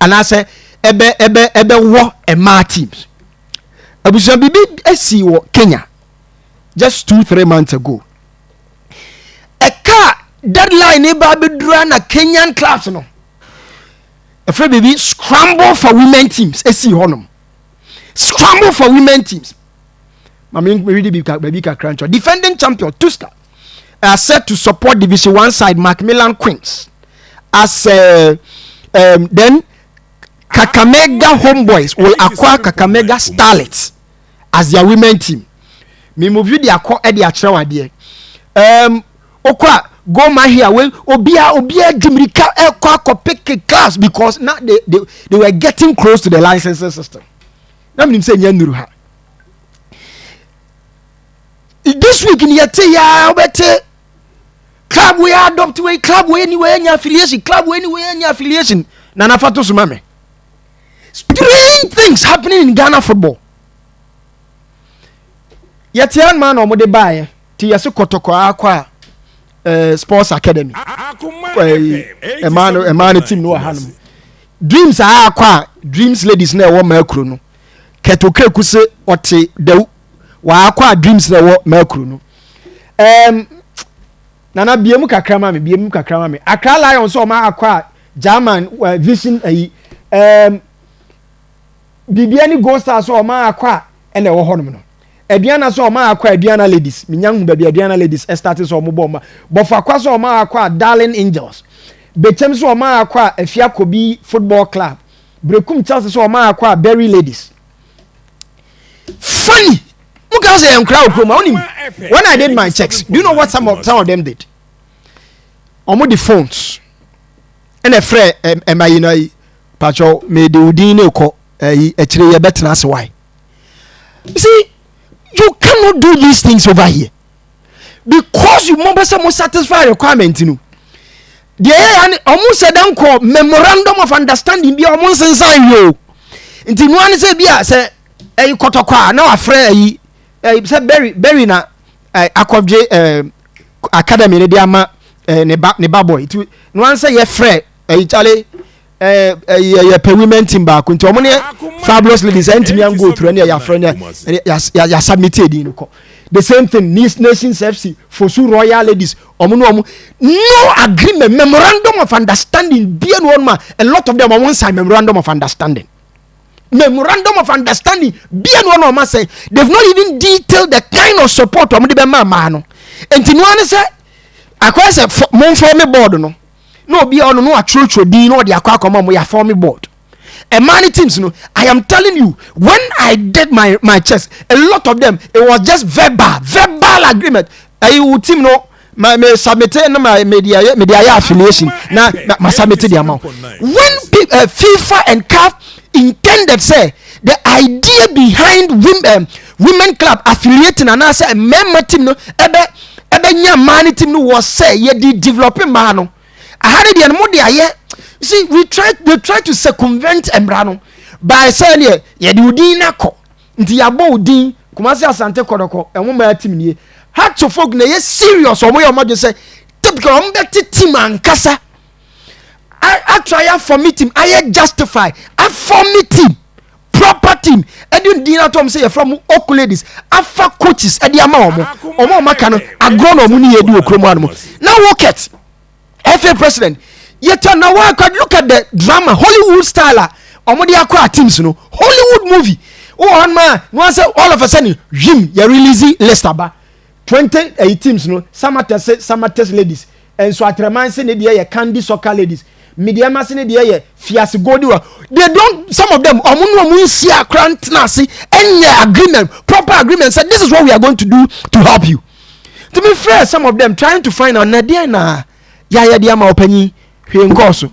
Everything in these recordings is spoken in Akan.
anaasɛ ɛbɛ ɛbɛ ɛbɛwɔ mmaa teams abusua biribi asi wɔ kenya just two three months ago ɛka deadline ne ba abɛdura na kenyan clubs no ɛfrɛ biribi scramble for women teams ɛsii hɔnom scramble for women teams mame mewede baabi kakra nkyɛ defending champion tuska are set to support Division One side Macmillan Queens as uh, um, then Kakamega Homeboys will acquire Kakamega Starlets as their women team. Me mo video akɔ ɛde akyerɛ wadeɛ. Um, okɔ go my here wey obia obia dimirika ɛkɔ akɔ pick class because now they, they they were getting close to the licensing system. Na mi nim sɛ nyɛ nuru ha. this week ni yɛte yɛ a wobɛte club wei adopt wei club wei ni wei anya affiliation club wei ni wei anya affiliation na nafa to so ma me strange things happening in ghana football yɛte anoma na ɔmode baeɛ te yɛse kɔtɔkɔ akɔ a eh, sports academy ɛmaa no ɛmaa no team no wɔ hanom dreams a akɔ a dreams ladies na ɛwɔ maa kuro no kɛtokɛ ku se ɔte dawu waakɔ a dreams na ɛwɔ mercury no ɛɛm nana biemu kakra ma mi biemu kakra ma mi akra lion sɛ ɔma akɔ a german uh, vision ayi ɛɛm biribiara ne gold star sɛ ɔma akɔ a ɛna ɛwɔ hɔnom no aduana sɛ ɔma akɔ a aduana ladies menya hu baabi aduana ladies ɛstarte sɛ ɔmo bɔ ɔma bɔfo akɔ sɛ ɔma akɔ a darling angels bekyɛm sɛ ɔma akɔ a afia kobi football club brekum chelsea sɛ ɔma akɔ a berry ladies funny mo ka sɛ nkura wɔ kurom a wonim when i did my checks do you know what some of, some of them did wɔn de phones ɛna ɛfrɛ ɛma yi na yi patro mede wo din ne kɔ ɛyi akyire yɛ bɛtena ase wae see you cannot do these things over here because mo pɛ sɛ mo satisfy requirement no deɛ ɛyɛ ya ne ɔmo sɛ dɛn kɔ memorandum of understanding bi a ɔmo nsensan wie o nti nua ne sɛ bi a sɛ ɛyi kɔtɔkɔ a na wafrɛ ɛyi ɛyi sɛ berry berry na ɛɛ akɔdwe ɛɛ academy ne de ama ɛɛ ne ba ne ba boy nti nua ne sɛ yɛfrɛ ɛyi kyale. yɛ pɛ women team baako nti wɔn ne fabulous ladies ɛntumi an go through ɛne yɛafrɛ ne yɛasubmit ɛdin no kɔ the same thing Nice nations fc fosu royal ladies wɔn ne wɔn no agreement memorandum of understanding bie no wɔn ma a lot of them wɔn sign memorandum of understanding memorandum of understanding bie no wɔn ma wɔn asɛn they have not even detailed the kind of support wɔn de bɛ maa maa no nti noa ne sɛ akɔyɛ sɛ mo nfɔ me board no. na obi a ɔno no atwerɛtwerɛ din na ɔde akɔ akɔma mo yɛ form board ɛmaa ne teams no i am telling you when i did my my chest a lot of them it was just verbal verbal agreement ɛyi wo team no ma me submit na ma me de ayɛ me de ayɛ affiliation na ma submit de ama when uh, fifa and caf intended say the idea behind women um, women club affiliating anaasɛ mmarima team no ɛbɛ ɛbɛnya mmaa no team no wɔ sɛ yɛde develop mmaa no aha no deɛ no mo de ayɛ see we try they try to circumvent mmara no by sɛ deɛ yɛde odin no akɔ nti yɛabɔ odin kumasi asante kɔdɔkɔ ɛho mmaa team nie heart to folk na ɛyɛ serious wɔn yɛ wɔn adwene sɛ typical wɔn bɛte team ankasa atry afɔ me team ayɛ justify afɔ me team. proper team ɛde ndin ato wɔn sɛ yɛfrɛ mo ok ladies afa coaches ɛde ama wɔn wɔn a wɔn aka no agorɔ na wɔn ne yɛ di wɔ kurom anum na wokɛt ɛfɛ president yɛtɔ na wɔakɔ look at the drama hollywood style a wɔn de akɔ a teams no hollywood movie wɔ hɔ nom a wɔn asɛ all of a sudden yim yɛ release list aba. Twente ɛyi teams no Samatex se Samatex ladies, nso Atraman se ne deɛ yɛ Candy Soccer ladies, Mideɛma se ne deɛ yɛ Fiase Gold wa. They don't some of them ɔmo ne ɔmo nhyia koraa ntena ase nyɛ agreement proper agreement sɛ this is what we are going to do to help you. Nti me frɛ some of them trying to find out na deɛn na yɛayɛ de ama ɔpanyin hwee nkɔɔ so.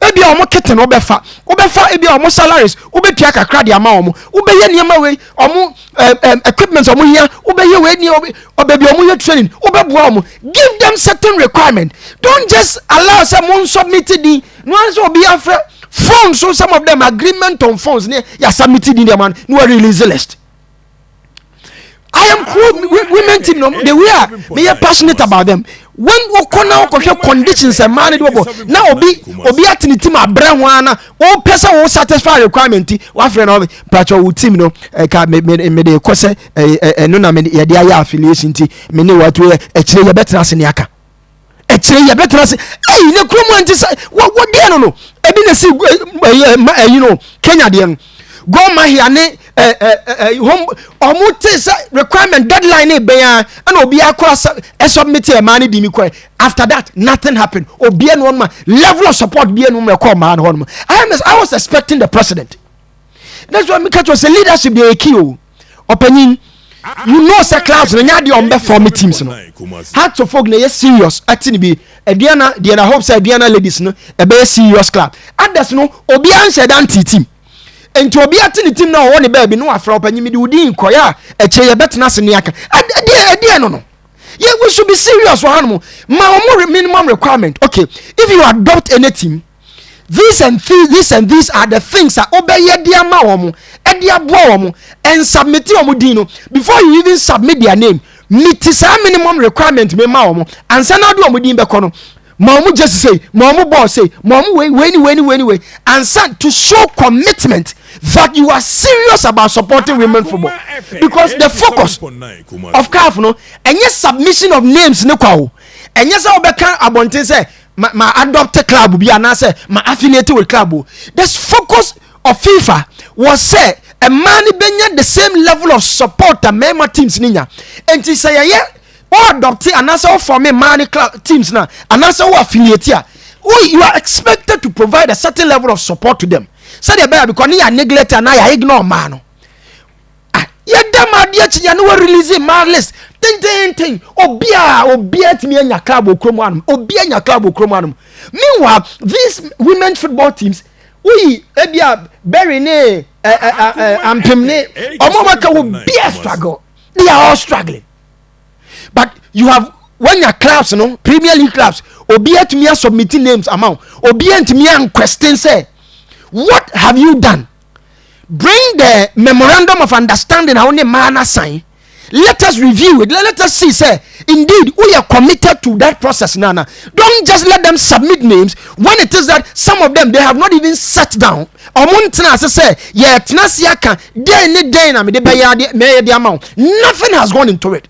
ebi a wɔn kete na wɔbɛfa wɔbɛfa ebi a wɔn salaries wɔbɛtua kakra de ama wɔn wɔbɛyɛ nneɛma wei wɔn ɛɛ ɛɛ equipment wɔn hia wɔbɛyɛ wei nneɛma ɔbɛbi wɔn yɛ training wɔbɛboa wɔn give them certain requirement don't just allow sɛ mo nsubmit din no ara sɛ obi afrɛ phone so some of them agreement on phones ne yasa miti din deɛ ma no na wɔ release list. I am women team no the way a meyɛ passionate about them when wokɔ na wokɔhwɛ conditions mmaa no de wɔbɔ na obi obi atene tim abrɛ ho ara na wopɛ sɛ wo satisfy requirement ti wafrɛ na ɔbɛ patwɛ wo team no ɛka mede kɔ sɛ ɛno na yɛde ayɛ affiliation ti me ne wɔato yɛ akyire yɛbɛtena ase ne aka ɛkyerɛ yi ɛbɛtena ase ɛyi ne kurom anti sɛ wɔdeɛ no no ɛbi na si ɛyi no kenya deɛ no gɔn mahia ne hom ɔmo te sɛ requirement deadline ne bɛn a ɛna obi akora sɛ ɛsubmit ɛmaa ne di mi kɔɛ after that nothing happen obi ɛnu ɔnoma level of support bi ɛnu mu ɛkɔ ɔmaa no hɔ nom i was expecting the president. that's why meka kyerɛ sɛ leadership deɛ ɛki o ɔpanyin you know sɛ class no nyɛ adeɛ ɔm bɛfa me teams no heart to folk na ɛyɛ serious ɛte no bi aduana deɛ na hope sɛ aduana ladies no ɛbɛyɛ serious club others no obiara nhyɛ da nte team nti obi ate ne team na ɔwɔ ne baabi no afra ɔpanyin mi de wodin kɔyɛ a ɛkyɛ yɛbɛtena ase ne aka ɛdeɛ ɛdeɛ no no yeah, we should be serious for animal. My minimum requirement. Okay, if you adopt any team, these and these these and these are the things a wobɛyɛ de ama wɔn de aboa wɔn and submit wɔn din no before you even submit their name meet saa minimum requirement mi ma wɔn ansa na ɔde wɔn din bɛkɔ no ma wɔn gyesi sei ma wɔn bɔɔl sei ma wɔn wei wei ni wei ni wei ni wei ansa to show commitment that you are serious about supporting women football because the focus of CAF no ɛnyɛ submission of names ne kwa o ɛnyɛ sɛ wɔbɛka abɔnten sɛ. ma ma adopt club bi anaasɛ ma affiliate with club o the focus of fifa was sɛ mmaa no bɛnya the same level of support a mmarima teams no nya nti sɛ yɛyɛ wɔ adopt anaasɛ wɔ form mmaa no club teams no a anaasɛ wɔ affiliate a you are expected to provide a certain level of support to them sɛdeɛ ɛbɛyɛ because ne yɛ neglect anaa yɛ ignore mmaa no Ah, yɛda mu adeɛ kye yɛne wɔ release mmaa list tententen obiara obiara tumi anya club wɔ kurom anom obiara anya club wɔ kurom anom meanwhile these women football teams woyi ebi a berry ne eh, eh, eh, eh, ampem ne ɔmo a wɔka wɔ bia struggle they are all struggling but you have wanya clubs no premier league clubs obi atumi asubmit names ama wo obi antumi anquestion sɛ what have you done Bring the memorandum of understanding a wo ne mmaa no asan. Let us review it. Let us see sɛ indeed woyɛ committed to that process no ana. Don't just let them submit names when it is that some of them they have not even sat down. Ɔmo ntena ase sɛ yɛtena ase aka dɛn ne dɛn na mede bɛyɛ adeɛ mɛyɛ de ama wo. Nothing has gone into it.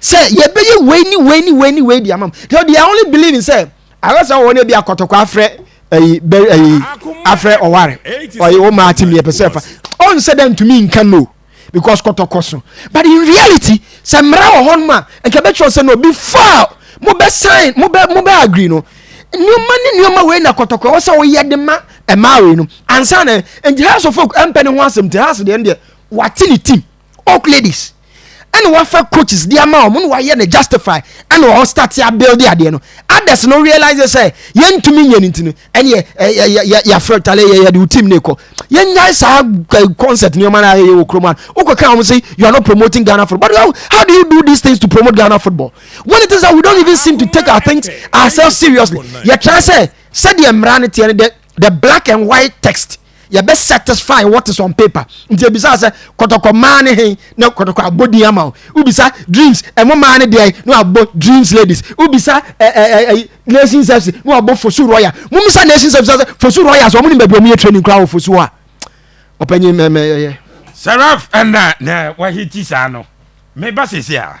sɛ yɛbɛyɛ wei ne wei ne wei ne wei de ama mu so they are only believing sɛ ayɛsɛ wɔn ebi akɔtɔkɔ afrɛ ɛyi bɛ ɛyi afrɛ ɔware ɔyɛ wɔn maa ti mi ɛpɛ sɛ fa ɔn sɛ dɛ ntumi nka no because kɔtɔkɔ so but in reality sɛ mmara wɔ hɔ nom a nka bɛtwerɛ sɛ no before mo bɛ sign mo bɛ mo bɛ agree no nneɛma ne nneɛma wei na kɔtɔkɔ ɛwɔ sɛ wɔyɛ de ma ɛmaa wei no ansa na nti house of folk ɛmpɛ ne ho asɛm ti house deɛ no deɛ wate ne tim. oak ladies ɛna wafa coaches di ama wɔn na wayɛ no justify ɛna wɔn start ya build adeɛ no others no realize sɛ yɛntumi nyɛ ne ti no ɛne yɛ yɛ yɛ yɛ yɛafrɛ tale yɛ yɛde team ne kɔ yɛnyae saa concept nneɛma no a yɛyɛ wɔ kurom a wokɔka wɔn sɛ you are not promoting Ghana football but how, how do you do these things to promote Ghana football when it is that we don't even seem to take our things ourselves seriously yɛtra sɛ sɛdeɛ mmara no teɛ no dɛ the black and white text yɛbɛ satisfy what is on paper nti ebisa sɛ kɔtɔkɔ maa ne hen na kɔtɔkɔ abɔ din ama o wobisa dreams ɛmo maa ne deɛ na wabɔ dreams ladies wobisa ɛɛ eh, ɛɛ eh, eh, nation service na wabɔ fosu royal mo misa nation service sɛ fosu royal so ɔmo nim baabi ɔmo yɛ training koraa wɔ fosu hɔ a ɔpanyin mɛmɛ yɛyɛ. seraph ɛna na wahiti saa no meba sese a.